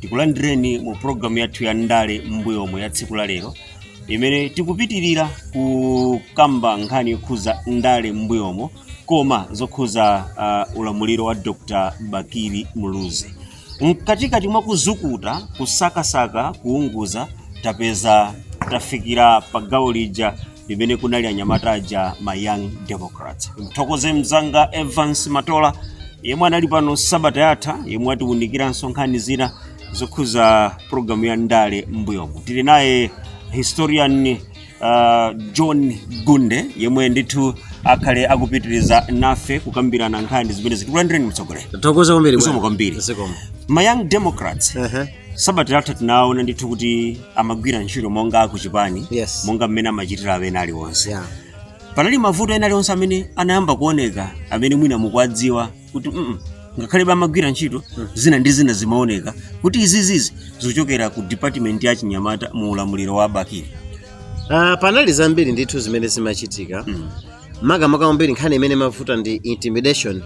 tikulandireni mu programu yathu ya ndale m'mbuyomo ya tsiku la lero imene tikupitirira kukamba nkhani yokhuza ndale m'mbuyomo koma zokhuza uh, ulamuliro wa dr bakili muluzi mkatikati mwa kuzukuta kusakasaka kuunguza tapeza tafikira pa gawo lija limene kunali anyamata aja ma young democrats mthokoze mzanga evans matola yemwe anali pano sabata yatha yemwe atiwunikiranso nkhani zina zokhuza programu ya ndale m'mbuyomo tili naye historian uh, john gunde yemwe ndithu akhale akupitiriza nafe kukambirana nkhani zimenezi tikulandireni mtsogoleri Tathokoza kwambiri. Zikomo kwambiri. Zikomo. ma young democrats Ehe. sabata yatha tinaona ndithu kuti amagwira ntchito monga akuchipani Yes. monga mmene amachitira ena aliwonse Yeah. panali mavuto ena aliwonse amene anayamba kuoneka amene mwina mukuwadziwa kuti mm, ngakhalebe amagwira ntchito zina ndi zina zimaoneka kuti izizizi zikuchokera ku department ya chinyamata mu ulamuliro wa bakili Ah, panali zambiri ndithu zimene zimachitika makamaka kwambiri nkhani imene imavuta ndi intimidation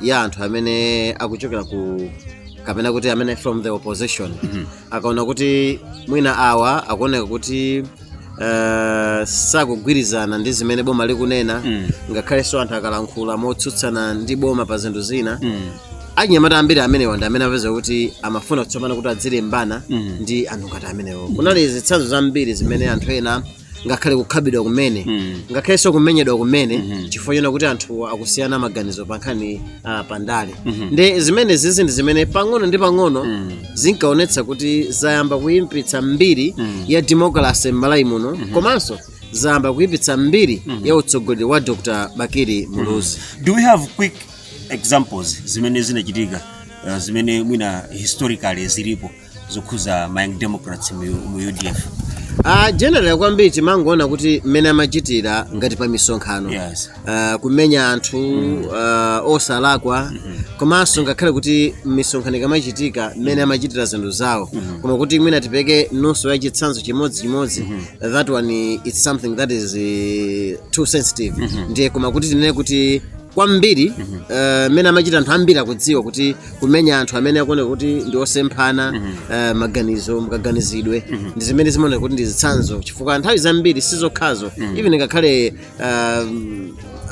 ya anthu amene akuchokera ku kapena kuti amene from the opposition akaona kuti mwina awa akuoneka kuti eh, sakugwirizana ndi zimene boma likunena ngakhalenso anthu akalankhula motsutsana ndi boma pa zinthu zina anyamata ambiri amenewa ndi amene apeza kuti amafuna kuti tsopano kuti adzilimbana ndi anthu ngati amenewo kunali zitsanzo zambiri zimene anthu ena ngakhale kukhapidwa kumene Mm. ngakhalenso kumenyedwa kumene Mhm. chifukwa chonena kuti anthu akusiyana maganizo pa nkhani ah, pa ndale Mhm. ndi zimene zizi ndi zimene pang'ono ndi pang'ono Mm. zinkaonetsa kuti zayamba kuyipitsa mbiri Mm. ya demokrasi m'malawi muno komanso zayamba kuyipitsa mbiri ya utsogoleri wa dr bakili muluzi do we have quick examples zimene zinachitika uh, zimene mwina historically zilipo zokhuza ma young democrats mu, mu udf Ah, generally kwambiri timangoona kuti mmene amachitira ngati pa misonkhano Yes. Ah, kumenya anthu ah, osalakwa komanso ngakhale kuti misonkhano ikamachitika mmene amachitira zinthu zawo koma kuti mwina tipeke nunso ya chitsanzo chimodzi chimodzi that one it's something that is eh, too sensitive ndiye koma kuti tinene kuti kwambiri eh, mmene amachita anthu ambiri akudziwa kuti kumenya anthu amene akuoneka kuti ndi osemphana eh, maganizo mukaganizidwe ndi zimene zimaoneka kuti ndi zitsanzo chifukwa nthawi zambiri si zokhazo even ngakhale eh,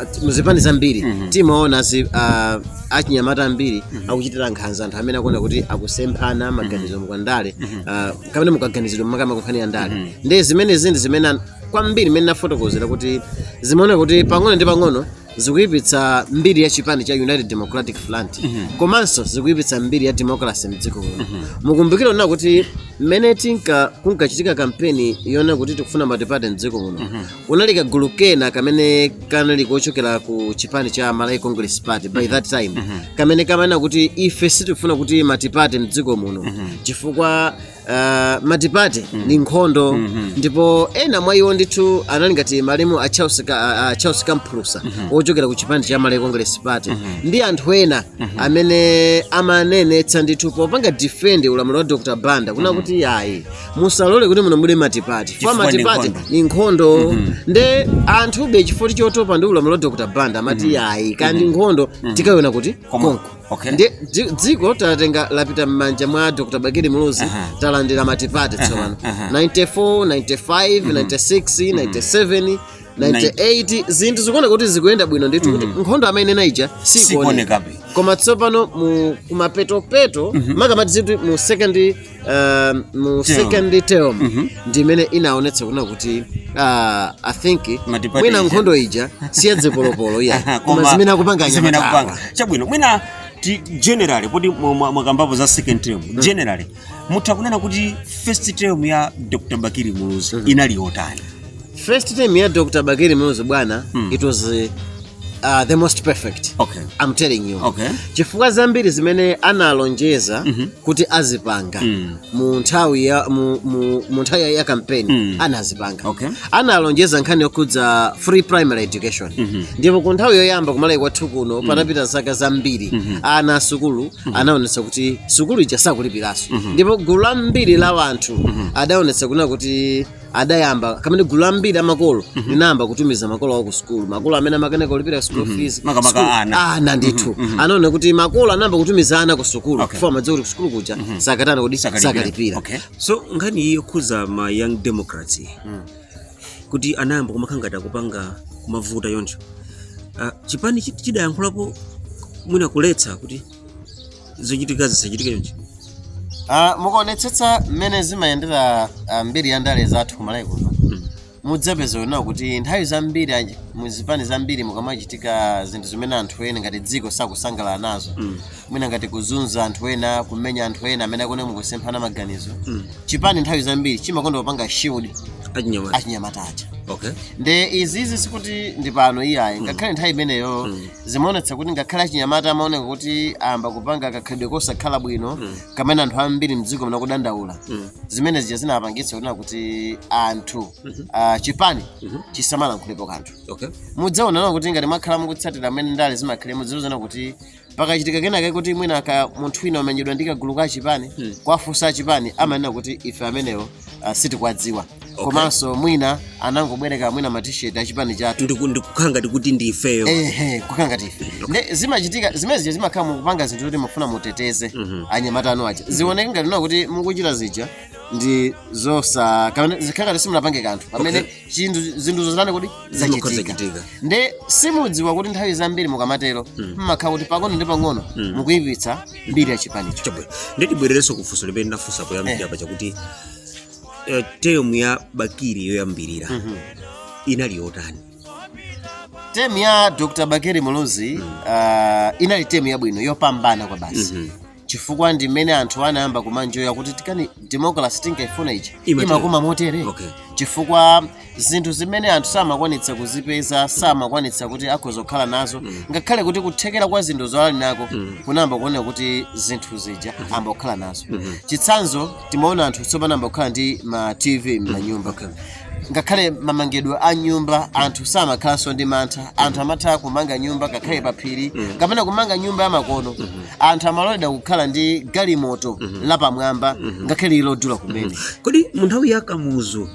at- muzipani zambiri timaona azi- ah, achinyamata ambiri akuchitira nkhanza anthu amene akuoneka kuti akusemphana maganizo nkhani ya ndale ah, kapena mukaganizidwe makamaka kunkhani ya ndale ndi zimene zindi zimene an- kwambiri mmene ndafotokozera kuti zimaoneka kuti pang'ono ndi pang'ono zikuyipitsa mbiri ya chipani cha united democratic front komanso zikuyipitsa mbiri ya democracy mdziko muno mukumbukire kunena kuti mmene tinka kunkachitika kampeni yonena kuti tikufuna matipate mdziko muno kunali kagulu kena kamene kanali kochokera ku chipani cha malawi congress party by that time kamene kamanena kuti ife sitifuna kuti matipate mdziko muno chifukwa uh, matipate mm. ndi nkhondo mm -hmm. ndipo ena mwa iwo ndithu anali ngati malemu a Charles, ka, uh, Charles Kamphulusa mm -hmm. ochokera ku chipani cha Malawi Congress Party mm -hmm. ndi anthu ena mm -hmm. amene amanenetsa ndithu popanga defend ulamuliro wa Dr. Banda kunena mm -hmm. kuti ayi musalole kuti muno mulowe matipate chifukwa matipate ni nkhondo mm -hmm. nde anthube chifukwa chotopa ndi ulamuliro wa Dr. Banda amati mm -hmm. ayi kaya ndi mm -hmm. nkhondo mm -hmm. tikaiona konko okay ndiye dzi- dziko talitenga lapita m'manja mwa dr bakili muluzi Aha. talandira matipate tsopano aha. 94 95 96 97 98 zinthu zikuoneka kuti zikuyenda bwino ndithu kuti nkhondo amainena ija sikuoneka sikuonekabe koma tsopano mu kumapetopeto maka tiziti mu second um, mu Term. second term Mhm. ndimene inaonetsa kunena kuti uh, i think Matipate mwina ija. nkhondo ija siyazipolopolo iyayi koma Koma zimene akupanga zimene anyamatawa akupanga. chabwino mwina ti generally poti mwa- mwa- mwakambapo za second term generally mutha kunena kuti first term ya dr bakili muluzi inali yotani first term ya dr bakili muluzi bwana Mm. it was uh, uh, the most perfect okay I'm telling you okay chifukwa zambiri zimene analonjeza Mhm. kuti azipanga Mm. mu nthawi ya mu, mu, mu nthawi ya- ya kampeni Mm. anazipanga okay analonjeza nkhani yokhudza free primary education Mhm. ndipo ku nthawi yoyamba kumalawi kwathu kuno patapita zaka zambiri Mhm. ana a sukulu anaonetsa kuti sukulu ija sakulipiranso ndipo gulu lambiri la wanthu adaonetsa kunena kuti adayamba kamene gulu lambiri la makolo linayamba kutumiza makolo awo ku sukulu makolo amene amakanika kulipira school fees Makamaka school- ana. ana ndithu anaona kuti makolo anayamba kutumiza ana ku sukulu Okay. chifukwa amadziwa kuti ku sukulu kuja sakatana kodi Sakalipira. sakalipira Okay. so nkhani iyi yokhuza ma young democrats kuti anayamba kumakhala ngati akupanga kumavuta choncho Ah, chipani chi- chidayankhulapo mwina kuletsa kuti zochitika zisachitike chonchi Ah, mukaonetsetsa mmene zimayendera ah, mbiri ya ndale zathu kumalawi kuno mudzapeza kunena kuti nthawi zambiri anji- mu zipani zambiri mukamachitika zinthu zimene anthu ena ngati dziko sakusangalala nazo mwina ngati kuzunza anthu ena kumenya anthu ena amene akone mukusemphana maganizo chipani nthawi zambiri chimakonda kupanga shield achinyamata achinyamata aja okay nde izizi sikuti ndi pano iyayi ngakhale nthawi imeneyo zimaonetsa kuti ngakhale achinyamata amaoneka kuti ayamba kupanga kakhalidwe kosakhala bwino mm. kamene anthu ambiri mdziko muno kudandaula mm. zimene zija zinapangitsa kunena kuti anthu mm -hmm. uh, chipani mm -hmm. chisamalankhulepo kanthu okay. mudzaona kuti ngati mwakhala mukutsatira amene ndale zimakhalira muzindikira kuti pakachitika kenake kuti mwina munthu wina wamenyedwa ndi kagulu ka chipani mm. kuwafunsa achipani amanena kuti ife amenewo uh, sitikuwadziwa komanso mwina anangobwereka mwina matisheti achipani chathu Ndiku- ndikukhala ngati kuti ndi ifeyo ehe kukhala ngati ife nde zimachitika zimene zija zimakhala mukupanga zinthu zoti mufuna muteteze anyamata anu aja zioneke ngati kunena kuti mukuchita zija ndi zosa kapena zikhala ngati simunapange kanthu pamene chinthu zinthu zoti zitani kuti zachitika Zikuzachitika. nde simudziwa kuti nthawi zambiri mukamatero mmakhala kuti pang'ono ndi pang'ono mukuyipitsa mbiri ya chipanicho Chabwe. Nde tibwererenso kufunso limene ndafunsa poyambirira paja kuti eh, term ya Bakili yoyambirira inali yotani? temu ya dr bakili muluzi uh, inali temu yabwino yopambana kwa basi chifukwa ndi mmene anthu anayamba kumanjoya kuti tikati democracy tinkaifuna ija Imatero. imakoma motere Okay. chifukwa zinthu zimene anthu samakwanitsa kuzipeza samakwanitsa kuti akhoza kukhala nazo ngakhale kuti kuthekera kwa zinthuzo ali nako kunayamba kuoneka kuti zinthu zija amba kukhala nazo chitsanzo timaona anthu tsopano amba kukhala ndi ma tv m'manyumba Okay. ngakhale mamangidwe a nyumba anthu samakhalanso ndi mantha anthu amatha kumanga nyumba ngakhale pa phiri kapena kumanga nyumba yamakono anthu amaloledwa kukhala ndi galimoto lapamwamba ngakhale ili lodula kumene kodi mu nthawi ya kamuzu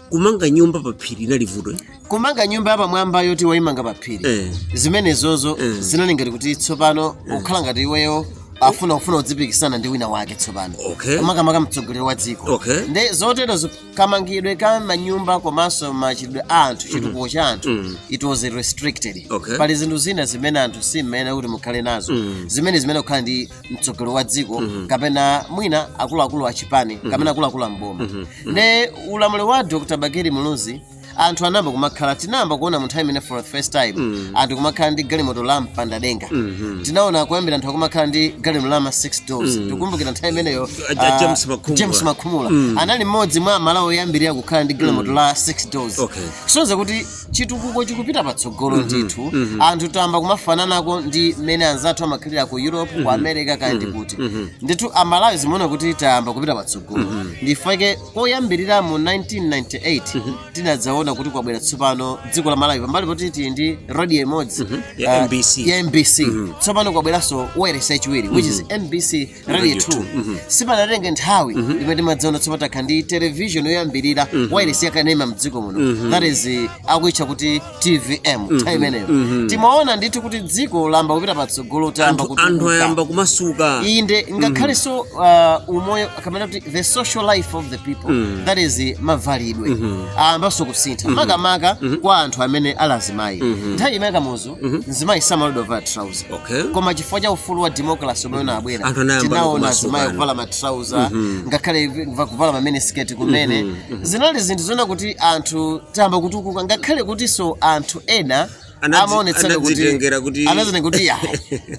kumanga nyumba pa phiri inali vuto eh? kumanga nyumba yapamwamba yoti waimanga pa phiri Eh. zimenezozo Eh. zinali ngati kuti tsopano ukukhala ngati iweyo ukufuna ufuna udzipikisana ndi wina wake tsopano Okay. makamaka mtsogoleri wa dziko Okay. nde zoterozo kamangidwe ka manyumba komanso machitiridwe a anthu chitukuko cha anthu Mm. it was restricted Okay. pali zinthu zina zimene anthu simmayenera kuti mukhale nazo Mm. zimene zimene akukhala ndi mtsogoleri wa dziko kapena mwina akuluakulu a chipani kapena akuluakulu a mboma nde ulamuliro wa dr bakili muluzi anthu anayamba kumakhala tinayamba kuona munthawi imene for the first time mm. anthu kumakhala ndi galimoto lopanda denga mm -hmm. tinaona kuyambira anthu akumakhala ndi galimoto la ma 6 doors mm. tikumbukira nthawi imeneyo uh, James Makhumula, James Makhumula. Mm. anali mmodzi mwa amalawi oyambirira kukhala ndi galimoto mm. la 6 doors okay. kusonyeza kuti chitukuko chikupita patsogolo mm -hmm. ndithu mm -hmm. anthu tayamba kumafananako ndi mmene anzathu amakhalira ku europe mm -hmm. ku america kapena mm -hmm. kuti mm -hmm. ndithu amalawi zimaona kuti tayamba kupita patsogolo mm -hmm. ndifake koyambirira mu 1998 tinadzaona kuti kwabwera tsopano dziko la malawi pambali poti tili ndi radio imodzi Ya ah, MBC. ya mbc tsopano kwabweranso wailesi yachiwiri which is mbc radio Radio 2 two. sipanatenge nthawi imene timadzaona tsopano takhala ndi television yoyambirira wailesi yakanema mdziko muno that is eh, akuitcha kuti tvm nthawi imeneyo timaona ndithu kuti dziko layamba kupita patsogolo tayamba anthu anthu kutukuka. ayamba kumasuka inde ngakhalenso uh, umoyo kapena kuti the social life of the people that is eh, mavalidwe ayambanso kusintha makamaka kwa anthu amene ali azimayi nthawi ya kamuzu mzimayi samaloledwa kuvala trouser Okay. koma chifukwa cha ufulu wa democracy omwe unabwera Anthu anayamba tinaona kumasukana. azimayi kuvala matrauza ngakhale va- kuvala ma miniskirt kumene zinali zinthu zoonetsa kuti anthu tayamba kutukuka ngakhale kutinso anthu ena Anadzi- amaonetseka kuti anadzitengera kuti- anazana kuti ya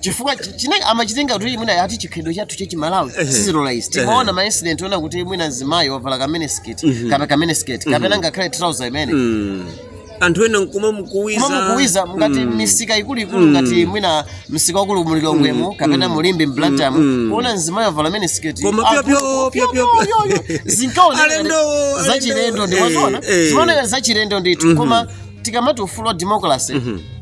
chifukwa chi- china amachitenga kuti mwina ati chikhalidwe chathu cha chimalawi sichilola izi timaona ma incident onena kuti mwina mzimayi wavala ka miniskirt kapena ka miniskirt kapena ngakhale trouser imene Mm. anthu ena nkumamukuwiza kumamukuwiza ngati misika ikuluikulu ngati mwina msika waukulu mu lilongwemo kapena mu limbe mblantyremu mm. kuona mzimayi wavala miniskirt Koma pyo, pyo, Akulu- pyo, pyo, pyo. yo, yo, yo. zinkaoneka Alendowo, ngati zachilendo ndi alendowo. mumaziona Eh, eh. zimaoneka ngati zachilendo ndithu koma tikamati ufulu wa democracy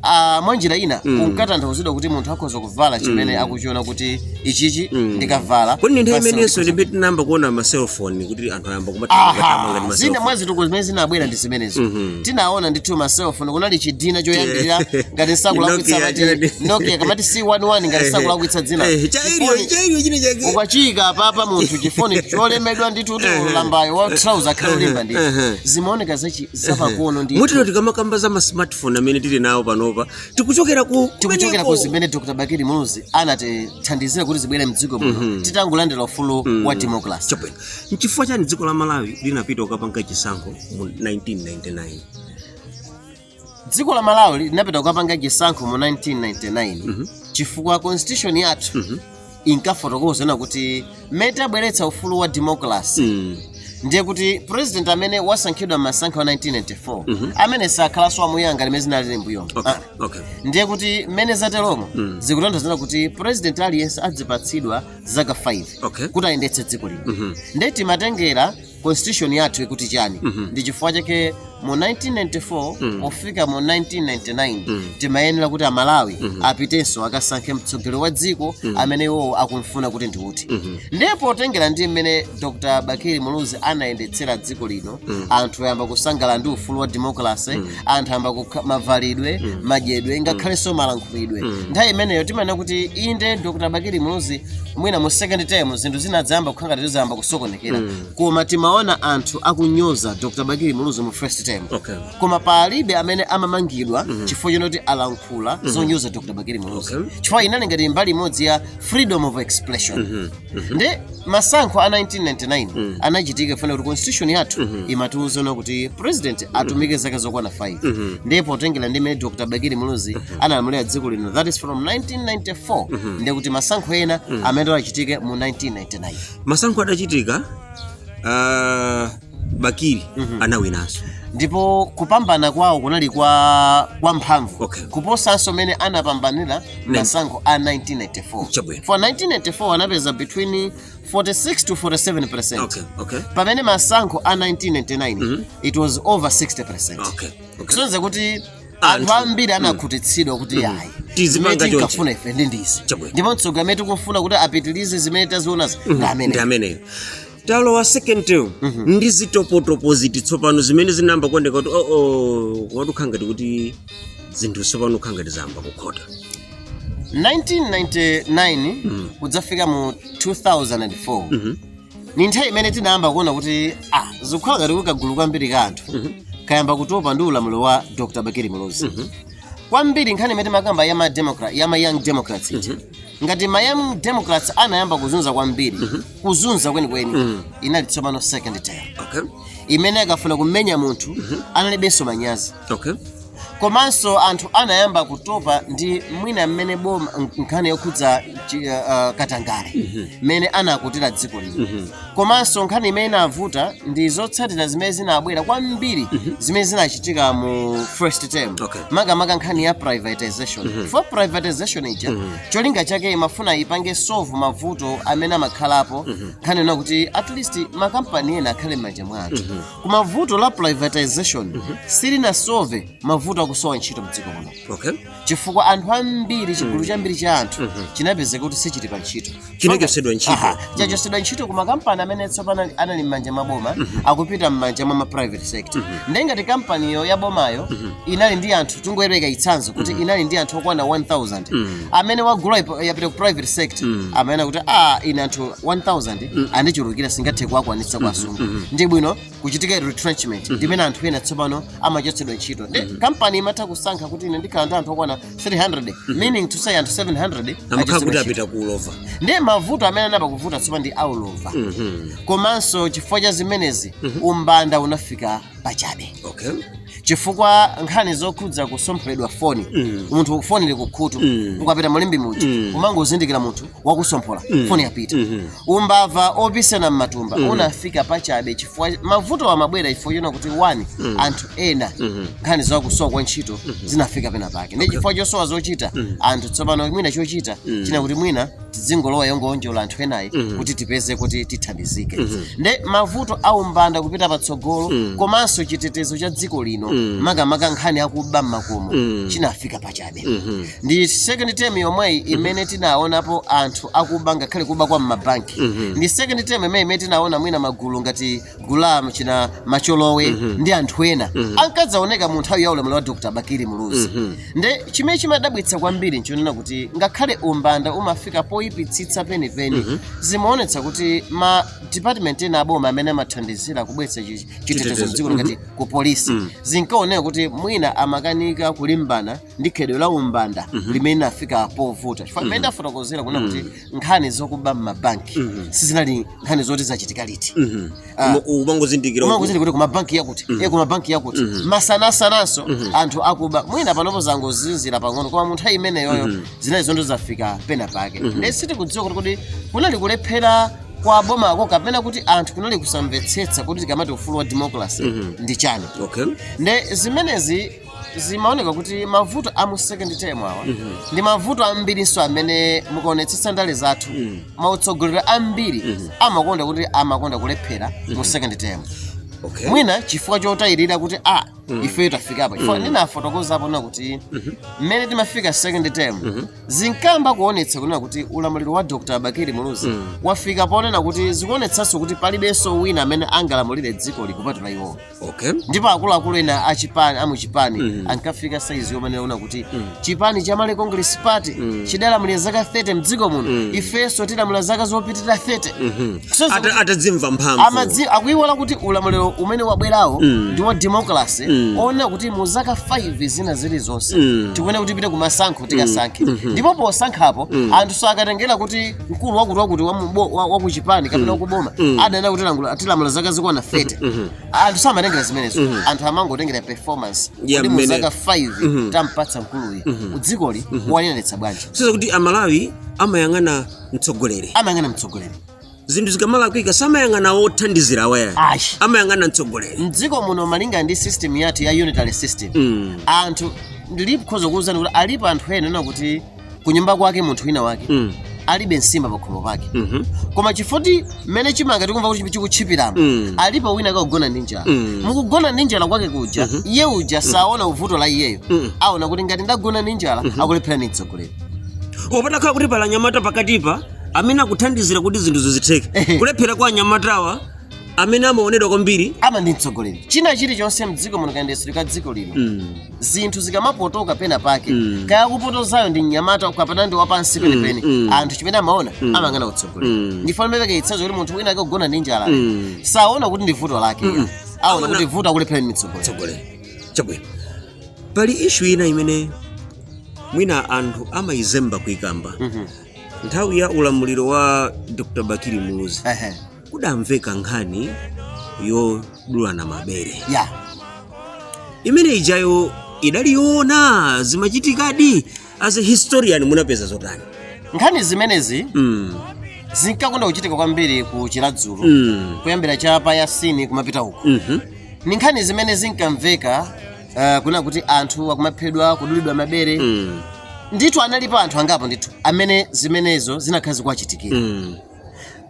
ah, mwa njira ina unkatanthauzidwa kuti munthu akhoza kuvala chimene akuchiona kuti ichichi ndikavala Kodi ndi nthawi basi imenenso ndikhoza- ndi pamene tinayamba kuona ma cellphone kuti Anthu ayamba Aha, kumathamanga ndi ma Zina cellphone. mwa zitukuko zimene zinabwera ndi zimenezo Mhm. tinaona ndithu ma cellphone kunali chidzina choyambirira ngati sindikulakwitsa Nokia, mati chani. nokia kamati c11 ngati sindikulakwitsa dzina Eh, cha aerial Chifoni- cha aerial china chake ukachiyika apapa munthu chifoni cholemera ndithu kuti lambayo wa trouser akhale wolimba ndithu Ehe. zimaoneka zachi- zapakono ndithu mutero tikamakamba za masmartphone amene tili nawo panopa tikuchokera ku tikuchokera ku zimene dr bakili muluzi anatithandizira kuti zibwere mdziko muno titangolandira ufulu wa democracy Chabwino. Nchifukwa chani dziko la Malawi linapita kukapanga chisankho mu 1999? Dziko la Malawi linapita kukapanga chisankho mu 1999 mm -hmm. chifukwa constitution yathu mm -hmm. inkafotokoza zonena kuti mmene tabweretsa ufulu wa democracy mm. ndiye kuti president amene wasankhidwa mmasankho a 1994 mm -hmm. amene sakhalanso wamuyaya ngati mmene zinalili mbuyomo okay. ah. okay. ndiye kuti mmene zatelomo mm. zikutanthauza kuti president aliyense adzipatsidwa zaka 5 Okay. kuti ayendetse dziko lino Mhm. nde timatengera constitution yathu ikuti chani Mhm. ndi chifukwa chake mu 1994 Mhm. pofika mu 1999 Mhm. timayenera kuti amalawi Mhm. apitenso akasankhe mtsogoleri wa dziko Mhm. amene iwowo akumfuna kuti ndi uti Mhm. ndiye potengera ndi mmene dr bakili muluzi anayendetsera dziko lino anthu ayamba kusangalala ndi ufulu wa democracy anthu ayamba kukha- mavalidwe madyedwe ngakhalenso malankhulidwe nthawi imeneyo timanena kuti inde dr bakili muluzi mwina mu second term zinthu zinadzayamba kukhala ngati zayamba kusokonekera koma timaona anthu akunyoza dr bakili muluzi mu first term Okay. koma palibe amene amamangidwa chifukwa choti alankhula zonyoza dr bakili muluzi Okay. chifukwa inali ngati mbali imodzi ya freedom of expression nde masankho a 1999 anachitika chifukwa choti constitution yathu imatiuza kuti president atumike zaka zokwana 5 ndiye potengera ndi mmene dr bakili muluzi analamulira dziko lino that is from 1994 ndiye kuti masankho ena amene achitike mu 1999 masankho adachitika ah, bakili anawinanso ndipo kupambana kwawo kunali kwa kwa mphamvu Okay. kuposanso mene anapambanira masankho a 1994 Chabwino. chifukwa 1994 anapeza between 46 to 47 percent okay okay pamene masankho a 1999 it was over 60 percent okay okay kusonyeza kuti anthu ambiri anakhutitsidwa kuti ayi Tizimanga zimene chonchi. tinkafuna ife ndi ndizi Chabwino. ndipo mtsogoleri amene tikufuna kuti apitirize zimene tazionazi ndi ndi amene ameneyo talowa second term ndi zitopotopo ziti tsopano zimene zinayamba kuoneka kuti oo wayi zikukhala ngati kuti zinthu tsopano zikukhala ngati zayamba kukhota 1999 kudzafika mu 2004 ndi nthawi imene tinayamba kuona kuti ah, zikukhala ngati kagulu kwambiri ka anthu kayamba kutopa ndi ulamuliro wa dr bakili muluzi kwambiri nkhani imene timakamba ya ma democrat ya ma young democrats iti ngati ma young democrats anayamba kuzunza kwambiri kuzunza kwenikweni mm. inali tsopano second term okay. imene akafuna kumenya munthu mm -hmm. analibenso manyazi okay. komanso anthu anayamba kutopa ndi mwina mmene boma nkhani yokhudza uh, uh, katangale mhm. mmene mm -hmm. anakutira dziko lino mm -hmm. komanso nkhani imene inavuta ndi zotsatira zimene zinabwera kwambiri mm -hmm. zimene zinachitika mu first term okay. makamaka nkhani ya privatization mm -hmm. chifukwa privatization ija mm -hmm. cholinga chake imafuna ipange solve mavuto amene amakhalapo nkhani yonena kuti at least makampani ena akhale m'manja mwa anthu koma vuto la privatization silinasolve mavuto akusowa ntchito mdziko muno okay chifukwa anthu ambiri chigulu chambiri cha anthu chinapezeka kuti sichili pa ntchito chinachotsedwa ntchito Aha, chachotsedwa ntchito ku makampani amene tsopano ali- anali m'manja mwa boma akupita m'manja mwa ma private sector ndiye ngati kampaniyo ya bomayo inali ndi anthu tingoyerekeza chitsanzo kuti inali ndi anthu okwana 1000 amene wagula ipo- yapita ku private sector amanena kuti a ine anthu 1000 andichulukira sindingathe kuwakwanitsa kuwasunga ndi bwino kuchitika retrenchment ndimene anthu ena tsopano amachotsedwa ntchito nde kampani imatha kusankha kuti ine ndikhala ndi anthu okwana 300 meaning to say anthu 700 amakhala kuti achotsedwa apita ku ulova ntchito. ndiye mavuto amene anayamba kuvuta tsopano ndi aulova komanso chifukwa cha zimenezi umbanda unafika pachabe okay chifukwa nkhani zokhudza kutsompholedwa foni munthu foni ili kukhutu ukapita mu Limbe muja umangozindikira munthu wakusomphola mm. foni yapita mm -hmm. umbava opisana mmatumba mm. unafika pachabe chifukwa mavuto amabwera chifukwa chona kuti 1 mm. anthu ena mm -hmm. nkhani zakusowa kwa ntchito mm -hmm. zinafika pena pake ndi chifukwa chosowa zochita mm -hmm. anthu tsopano mwina chochita mm. china kuti mwina tidzingolowa yongoonjola anthu enayi mm -hmm. kuti tipeze kuti tithandizike mm -hmm. nde mavuto aumbanda kupita patsogolo mm. komanso chitetezo cha dziko lino mm. makamaka nkhani yakuba mmakomo mm. chinafika pachabe chabe ndi second term yomweyi imene tinaonapo anthu akuba ngakhale kuba kwa mmabanki ndi second term yomweyi imene tinaona mwina magulu ngati gulamu china macholowe ndi anthu ena ankadzaoneka mu nthawi ya ulamuliro wa dr bakili muluzi nde chimene chimadabwitsa kwambiri nchonena kuti ngakhale umbanda umafika poyipitsitsa penipeni zimaonetsa kuti ma department ena aboma amene amathandizira kubweretsa chi- chitetezo mdziko ngati ku polisi mm. zinkaoneka kuti mwina amakanika kulimbana ndi khalidwe la umbanda mm -hmm. limene linafika povuta chifukwa mmene mm. ndafotokozera kunena kuti mm. nkhani zokuba mmabanki mm -hmm. sizinali nkhani zoti zachitika liti mm -hmm. uh, umangozindikira kuti kumabanki yakuti mm -hmm. e kumabanki yakuti mm -hmm. masanasananso mm -hmm. anthu akuba mwina panopo zangozizira pang'ono koma munthawi imeneyoyo mm -hmm. zinali zinthu zafika pena pake mm -hmm. nde sitikudziwa kuti kodi kunali kulephera kwa bomako kapena kuti anthu kunali kusamvetsetsa kuti tikamati ufulu wa democracy Mhm. ndi chani okay nde zimenezi zimaoneka kuti mavuto a mu second term awa ndi mavuto ambirinso amene mukaonetsetsa ndale zathu ma utsogoleri ambiri amakonda kuti amakonda kulephera mu second term okay mwina chifukwa chotayirira kuti a mm. ifeyo tafika apa chifukwa mm. ndinafotokoza apo kunena kuti mm-hmm. mmene timafika second term mm-hmm. zinkamba kuonetsa kunena kuti ulamuliro wa dr bakili muluzi mm. wafika ponena kuti zikuonetsanso kuti palibenso wina amene angalamulire dziko ili kupatula iwowo okay. ndipo akuluakulu ena achipani amuchipani mm. ankafika saizi yomanena kuti mm. chipani cha malawi congress party chidalamulira zaka 30 mdziko muno ifenso tilamula zaka zopitirira 30 So, so- Ata- atadzimva mphamvu amadzi akuiwala kuti ulamuliro umene wabwerawu ndi wa democracy onena kuti mu zaka 5 zina zilizonse tikuyenera kuti tipite ku masankho tikasankhe ndipo posankhapo anthu sakatengera kuti mkulu wakuti wakuti wa mubo- wa- wa ku chipani kapena wakuboma adanena kuti langula- tilamula zaka zokwana 30 anthu samatengera zimenezo mm -hmm. anthu amangotengera performance yeah, kuti muzaka 5 mm -hmm. tampatsa mkuluyi mm -hmm. dzikoli mm -hmm. waliyendetsa bwanji tsopano kuti amalawi amayang'ana mtsogoleri amayang'ana mtsogoleri zinthu zikamalakwika samayang'ana othandizira awa ayi amayang'ana mtsogoleri mdziko muno malinga ndi system yathu ya unitary system mm. anthu ndikhoza kuwuzani kuti alipo anthu ena onena kuti kunyumba kwake munthu wina wake Mm. alibe nsima pakhomo pake Mhm. koma chifoti mmene chimanga tikumva kuti chikutchipiramo Mm. alipo wina akagona ndi njala Mm. mkugona ndi njala kwake kuja iye uja saona uvuto la iyeyo Mm. aona kuti ngati ndagona ndi njala akulephera ndi mtsogoleri patakhala kuti pali anyamata pakatipa amene akuthandizira kuti zinthu zizitheke Ehe. kulephera kwa anyamatawa amene amaonedwa kwambiri ama ndi mtsogoleri china chilichonse mdziko muno kayendetsedwe ka dziko lino Mm. zinthu zikamapotoka pena pake mm. kaya kupotozayo ndi mnyamata kapena ndi wapansi mm, penipeni mm, mm. anthu chimene amaona mm. amayang'ana utsogoleri mm. ndi chifukwa ndimapereka chitsanzo kuti munthu wina akagona ndi njala mm. saona kuti ndi vuto lake mm. aona kuti vuto akulephera ndi mtsogoleri chabwino pali issue ina imene mwina anthu amayizemba kuikamba mm -hmm. nthawi ya ulamuliro wa dr bakili muluzi uh -huh. kudamveka nkhani yodulana mabere imene ijayo idali yoona zimachitikadi as a historian munapeza zotani nkhani zimenezi mm. zinkakonda kuchitika kwambiri ku chiradzulu Mm. kuyambira cha pa yasini kumapita uko Mhm. ni nkhani zimene zinkamveka uh, kunena kuti anthu akumaphedwa kudulidwa mabere Mm. ndithu analipo anthu angapo ndithu amene zimenezo zinakhala zikuwachitikira Mm.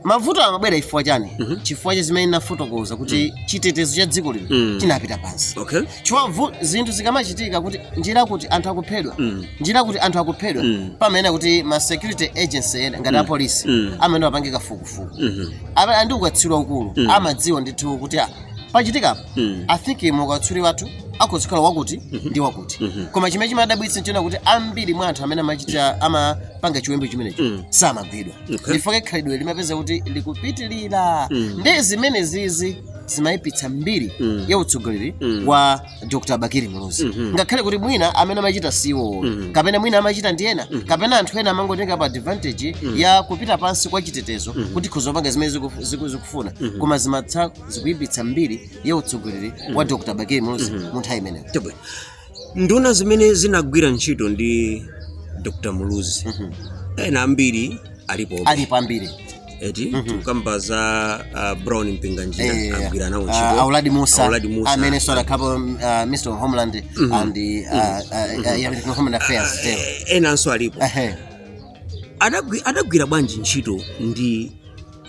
mavuto amabwera chifukwa chani Mhm. chifukwa cha zimene nafotokoza kuti chitetezo cha dziko lino Mm. chinapita pansi okay chifukwa vu- zinthu zikamachitika kunena kuti anthu akuphedwa Mm. kunena kuti anthu akuphedwa Mm. pamenepo kuti ma security agency ena ngati apolisi Mm. amene amapanga kafukufuku Mhm. amene ali ndi ukatswiri waukulu Mm. amadziwa ndithu kuti ah, pachitika apa Mm. i think mu ukatswiri wathu akhoza kukhala wakuti ndi wakuti Mhm. koma chimene chimadabwitsa nchonena kuti ambiri mwa anthu amene amachita amapanga chiwembu chimenecho Mm. samagwidwa Okay. nchifukwa chake khalidwe limapezeka kuti likupitirira Mm. ndiye zimenezi zi- zimayipitsa mbiri Mm. ya utsogoleri Mm. wa dr bakili muluzi Mhm. ngakhale kuti mwina amene amachita siwo Mhm. kapena mwina amachita ndi ena kapena anthu ena amangotenga pa advantage ya kupita pansi kwa chitetezo kuti akhoza kupanga zimene ziku- ziku- zikufuna koma zimatha zikuyipitsa mbiri ya utsogoleri wa dr bakili muluzi mu nthawi imeneyo Chabwino. Nduna zimene zinagwira ntchito ndi Dr. Muluzi ena ambiri alipo alipo ambiri eti tikukamba za uh, Brown Mpinganjira Eh, agwira nawo ah, ntchito a Uladi Mussa a Uladi Mussa amenenso adakhapo um, ah, Minister of Homeland and the, ah, ah, ah, yeah, with Home Affairs too. Eh, enanso alipo Ehe. Adagwi- adagwira bwanji ntchito ndi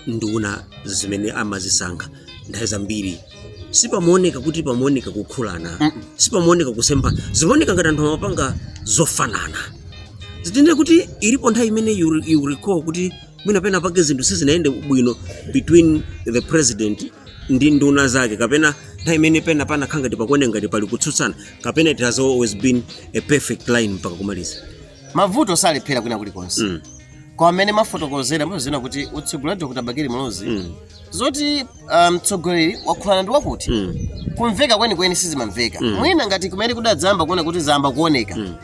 nduna zimene amazisankha nthawi zambiri sipamaoneka kuti pamaoneka kukhulana Mm-mm. sipamaoneka kusemphana zimaoneka ngati anthu amapanga zofanana sitinene kuti ilipo nthawi imene you, re- you recall kuti mwina pena pake zinthu sizinayende bwino between the president ndi nduna zake kapena nthawi imene pena panakhala ngati pakuoneka ngati pali kutsutsana kapena it has always been a perfect line mpaka kumaliza mavuto salephera kwina kulikonse Mm. koma mmene mafotokozera muzina kuti utsogoleri wa dr bakili muluzi Mm. zoti ah, mtsogoleri wakhulana ndi wakuti Mm. kumveka kwenikweni sizimamveka Mm. mwina ngati kumene tidadzayamba kuona kuti zayamba kuoneka Mm.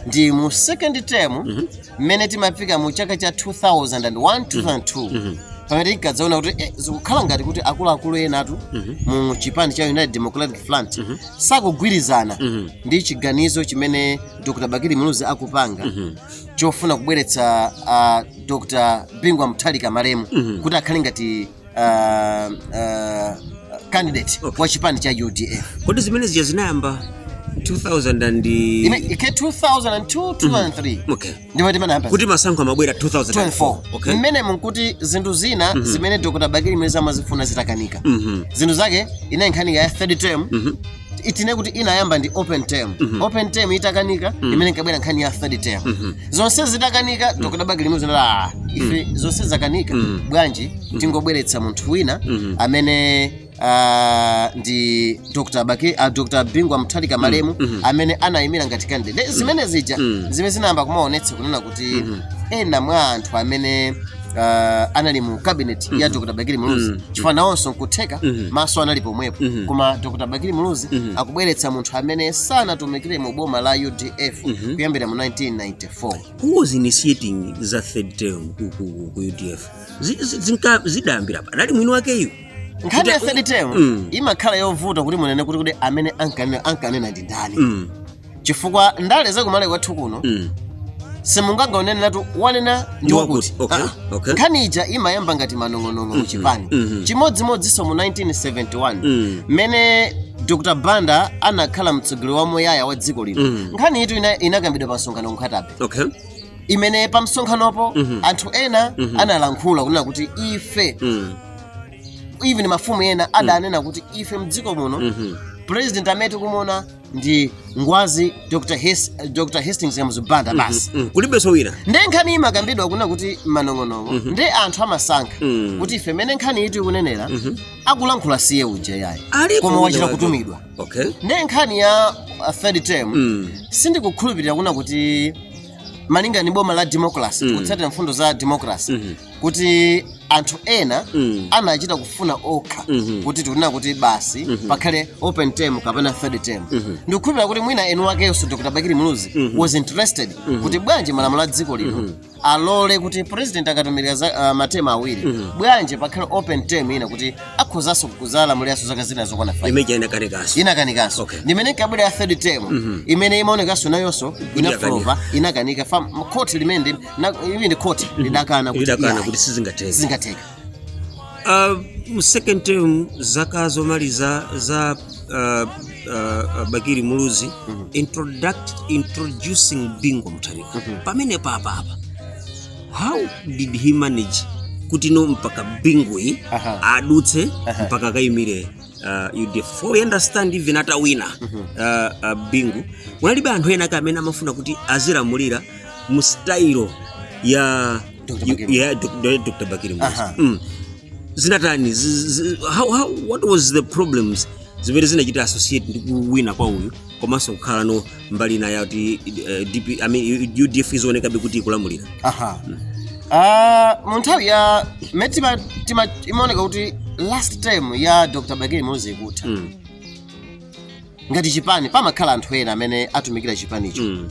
ndi mu second term mmene timafika mu chaka cha 2001 2002 Mhm. pamene tinkadzaona kuti eh, zikukhala ngati kuti akuluakulu enatu mu chipani cha united democratic front sakugwirizana Mhm. ndi chiganizo chimene Dr. Bakili Muluzi akupanga mm -hmm. chofuna kubweretsa uh, Dr. Bingu wa Mutharika malemu mm -hmm. kuti akhale ngati uh, uh, candidate okay. wa chipani cha UDF. Kodi zimene zija zinayamba 2000 and... Ike 2002 2003. Mm -hmm. Okay. ndipo timanena kuti masankho amabwera 2004 okay mmenemu nkuti zinthu zina mm -hmm. zimene dr bakili muluzi amazifuna zitakanika mm -hmm. zinthu zake inali nkhani ya third term mm -hmm tinene kuti inayamba ndi open term mm -hmm. open term itakanika mm -hmm. mmene inkabwera nkhani ya third term mm -hmm. zonse zitakanika mm -hmm. dr bakili muluzi ife mm -hmm. zonse zakanika mm -hmm. bwanji mm -hmm. tingobweretsa munthu wina mm -hmm. amene ah, ndi dr baki ah, dr bingu wa mutharika malemu mhm. amene anayimira ngati candidate Nde zimene zija Mm. zimene zinayamba kumaonetsa kunena kuti Mhm. ena mwa anthu amene ah, anali mu cabinet ya dr bakili muluzi Mhm. chifukwa nawonso nkutheka Mhm. maso anali pomwepo Mhm. koma dr bakili muluzi Mhm. akubweretsa munthu amene sanatumikire mu boma la udf Mhm. kuyambira mu 1994 who was initiating za third term ku, ku, ku udf Zi- zi- zinka- zidayambira pa anali mwini wakeyu nkhani ya third term Mm. imakhala yovuta kuti munene kuti kuti amene ankanena ankanena ndi ndani Mm, chifukwa ndale zakumalawi kwathu kuno mm. simunganenenetu wanena ndi Ndi wakuti wakuti, okay, Ah, okay. nkhani ija imayamba ngati manong'onong'o mu chipani mhm. chimodzimodzinso mu 1971 Mm. mmene dr banda anakhala mtsogoleri wamuyaya wa dziko lino Mm. nkhaniyitu ina- inakambidwa pa msonkhano ku nkhata bay okay imene pa msonkhanopo anthu ena analankhula kunena kuti ife Mm. even mafumu ena adanena kuti ife mdziko muno Mhm. president amene tikumuona ndi ngwazi dr, His, dr hastings kamuzu banda basi Mm, kulibenso wina nde nkhani imakambidwa kuna kuti manong'onong'o nde anthu amasankha Mhm. kuti iwe mmene nkhaniyitu ikunenera akulankhula si iye uja yayi Alipo koma wina wachita wake. kutumidwa okay nde nkhani ya uh, third term Mm. sindikukhulupirira kuna kuti malingana ndi boma la democracy kutsatira mfundo za democracy kuti anthu ena Mm. anachita kufuna okha Mhm. kuti tikunena kuti basi pakhale open term kapena third term ndikukhulupirira kuti mwina eni wakenso dr bakili muluzi was interested kuti bwanji malamulo a dziko lino alole kuti president akatumikira za ah, matema awiri bwanji pakhale open term ina kuti akhozanso kuzalamuliranso zaka zina zokwana five imene ija inakanikaso inakanikanso Okay. ndimene kabwera ya third term imene imaonekanso nayonso inafulopa inakanika fam khoti limene Na- ivi ndi khoti lidakana kuti idakana iyayi, kuti sizingateke sizingatheke Ah, mu second term zaka zomaliza za ah, ah, bakiri muluzi introduct, introducing bingu wa mutharika pamenepapa apa how did he manage kuti no mpaka bingu yu Aha. adutse Aha. mpaka akayimire ah, udf for we understand even atawina ah, ah, bingu kunalibe anthu ena ake amene amafuna kuti azilamulira mu style ya Dr. yu- Bakili. ya Dok- ya Dr. Bakili Muluzi. Aha. Mm. zinatani zi- zi- how, how, what was the problems zimene zinachita associate ndi kuwina kwa uyu komanso kukhala no mbali ina yakuti uh, DP, I mean, udf izionekabe kuti ikulamulira aha Ah, mu nthawi ya mmene tima- tima- imaoneka kuti last term ya dr bakili muluzi ikutha mm. ngati chipani pamakhala anthu ena amene atumikira chipanicho Mm.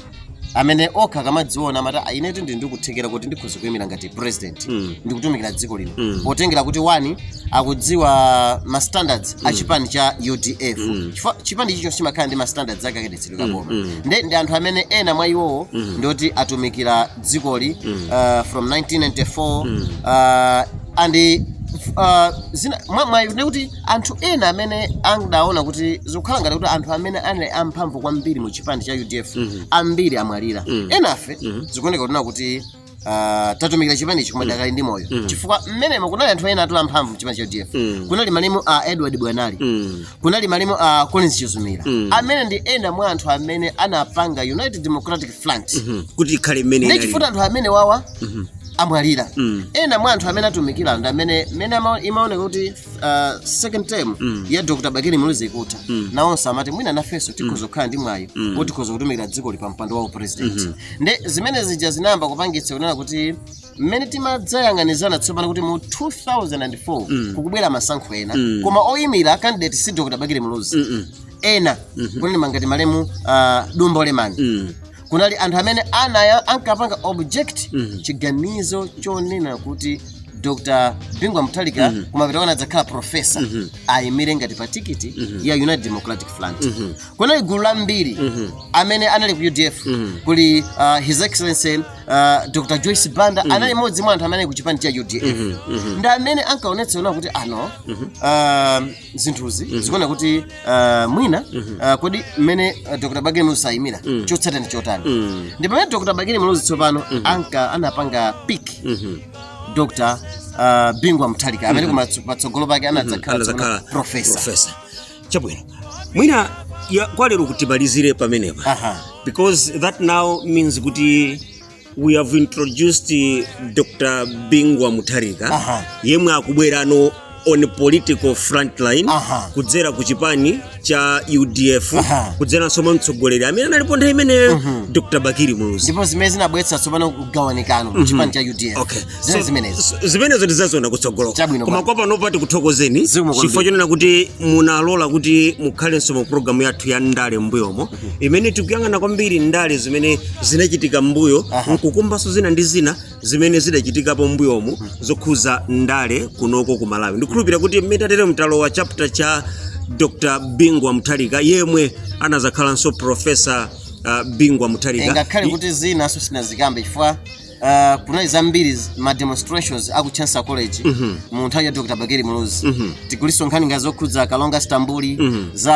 amene okha akamadziona amati "Ah, inetu ndili ndi kuthekera kuti ndikhoza kuyimira ngati president Mm. ndikutumikira dziko lino Mm. potengera kuti one akudziwa ma standards a chipani cha udf Mm. Chifukwa chipani chilichonse chimakhala ndi ma standards ake a kayendetsedwe ka boma Mm. nde ndi anthu amene ena mwa iwowo Mm. ndioti atumikira dzikoli Mm. uh, from 1994 Mm. uh, and uh, zina mwa- mwa- nekuti Anthu ena amene andaona kuti zikukhala ngati kuti anthu amene anali amphamvu kwambiri mu chipani cha udf mhm. ambiri amwalira mhm. enafe mhm. zikuoneka kunena kuti ah, tatumikira chipani ichi koma tidakali ndi moyo chifukwa mmenemo kunali anthu ena a mphamvu mchipani cha udf kunali malemu a edward bwanali kunali malemu a collins chizumira amene ndi ena mwa anthu amene anapanga united democratic front kuti ikhale mmene ndichifukwa anthu amenewawa amwalira ena mwa anthu amene atumikira ndi amene imaoneka kuti uh, second term mm. ya dr bakili muluzi ikutha mm. nawonso amati mwina nafenso mm. tikhoza kukhala ndi mwayi mm. kuti tikhoza kutumikira dzikoli pa mpando wa upresident mm -hmm. nde zimene zija zinayamba kupangitsa kunena kuti mmene timadzayang'anizana tsopano kuti mu 2004 mm. kukubwera masankho ena mm. koma oyimira candidate si dr bakili muluzi mm -mm. ena mm -hmm. kunena monga ngati malemu uh, dumbo lemani mm. kunali anthu amene anaya ankapanga object Mhm. chiganizo chonena kuti dr bingu mutharika Mhm. kumapeto kwake anadzakhala profesa Mhm. ayimire ngati pa tikiti Mhm. ya united democratic front Mhm. kunali gulu lambiri Mhm. amene anali ku udf Mhm. kuli uh, his excellency uh, dr joyce banda anali mmodzi mwa anthu amene anali ku chipani cha udf Mhm. Mhm. ndi amene ankaonetsa kuti ano um, zinthuzi mm. zikuona kuti uh, mwina mm -hmm. uh, kodi mmene uh, dr bakili muluzi sayimira mm. chotsatira ndi chotani mm. ndi pamene dr bakili muluzi tsopano mm -hmm. anka anapanga pick mm -hmm. dr uh, bingu wa mutharika amene mm -hmm. patsogolo pake anadzakhala mm -hmm. profesa profesa chabwino mwina ya, kwa lero kuti timalizire pamenepa because that now means kuti we have introduced uh, dr bingu wa mutharika Aha. yemwe akubwerano on political frontline Aha. kudzera ku chipani cha udf Aha. kudzeranso mwa mtsogoleri amene analipo nthawi imeneyo dr bakili muluzi ndipo zimene zinabweretsa tsopano kugawanikano ku chipani cha udf Okay. zine So, zimenezo so, zimenezo tidzaziona kutsogolo Chabwino koma bwana. kwa panopa tikuthokozeni Zikomo kwambiri. chifukwa chonena kuti munalola kuti mukhalenso mu programu yathu ya ndale mbuyomu imene tikuyang'ana kwambiri ndale zimene zinachitika mbuyo nkukumbanso zina ndi zina zimene zidachitikapo mbuyomu zokhuza ndale kunoko ku malawi ndikhulupirira kuti mmene tatere talowa chapter cha dr bingu wa mutharika yemwe anazakhalanso profesa uh, bingu wa mutharika ngakhale kuti zinanso sitinazikambe chifukwa Uh, kunali zambiri z- ma demonstrations aku Chancellor College Mhm. mu nthawi ya Dr. Bakili Muluzi Mhm. kulinso nkhani ngati zokhudza Kalonga Stambuli Mhm. za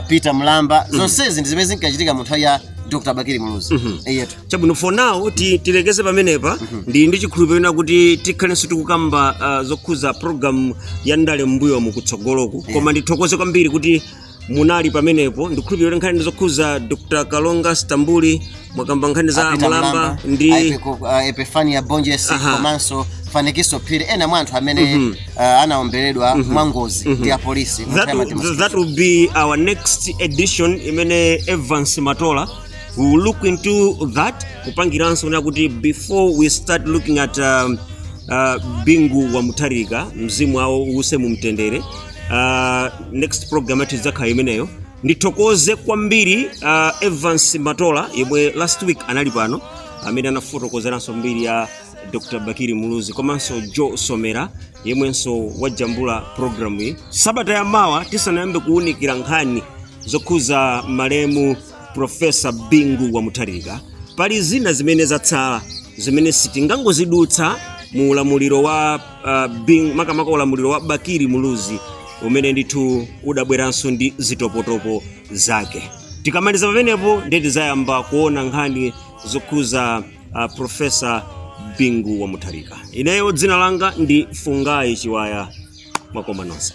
uh, Peter Mlamba zonsezi ndi zimene zinkachitika mu nthawi ya Dr. Bakili Muluzi Mhm. eyetu chabwino for now ti- tilekeze pamenepa ndili ndi chikhulupiriro chonena kuti tikhalenso tikukamba ah, zokhuza program ya ndale m'mbuyomu kutsogoloku koma ndithokoze kwambiri kuti munali pamenepo ndikukhulupirira kuti nkhani zokhuza dr kalonga stambuli mwakamba nkhani za a Peter Mlamba ndi Aipeku- uh, epifania bonjesi Aha. komanso fanikiso phiri ena mwa anthu amene Mhm. uh, anaomberedwa mwa ngozi Mhm. ndi apolisi mu that, Chama cha will- that will be our next edition imene evans matola we will look into that kupangira zonena kuti before we start looking at um, uh, bingu wa mutharika mzimu awo uuse mu mtendere uh, next program yathu idzakhala imeneyo ndithokoze kwambiri uh, evans matola yemwe last week anali pano amene anafotokozeranso mbiri ya dr bakili muluzi komanso joe somera yemwenso wajambula programu iyi sabata ya mawa tisanayambe kuwunikira nkhani zokhuza malemu profesa bingu wa mutharika pali zina zimene zatsala zimene sitingangozidutsa mu ulamuliro wa uh, being makamaka ulamuliro wa bakili muluzi umene ndithu udabweranso ndi zitopotopo zake tikamaliza pamenepo ndiye tidzayamba kuona nkhani zokhuza uh, profesa bingu wa mutharika ineyo dzina langa ndi fungayi chiwaya mwakoma nonse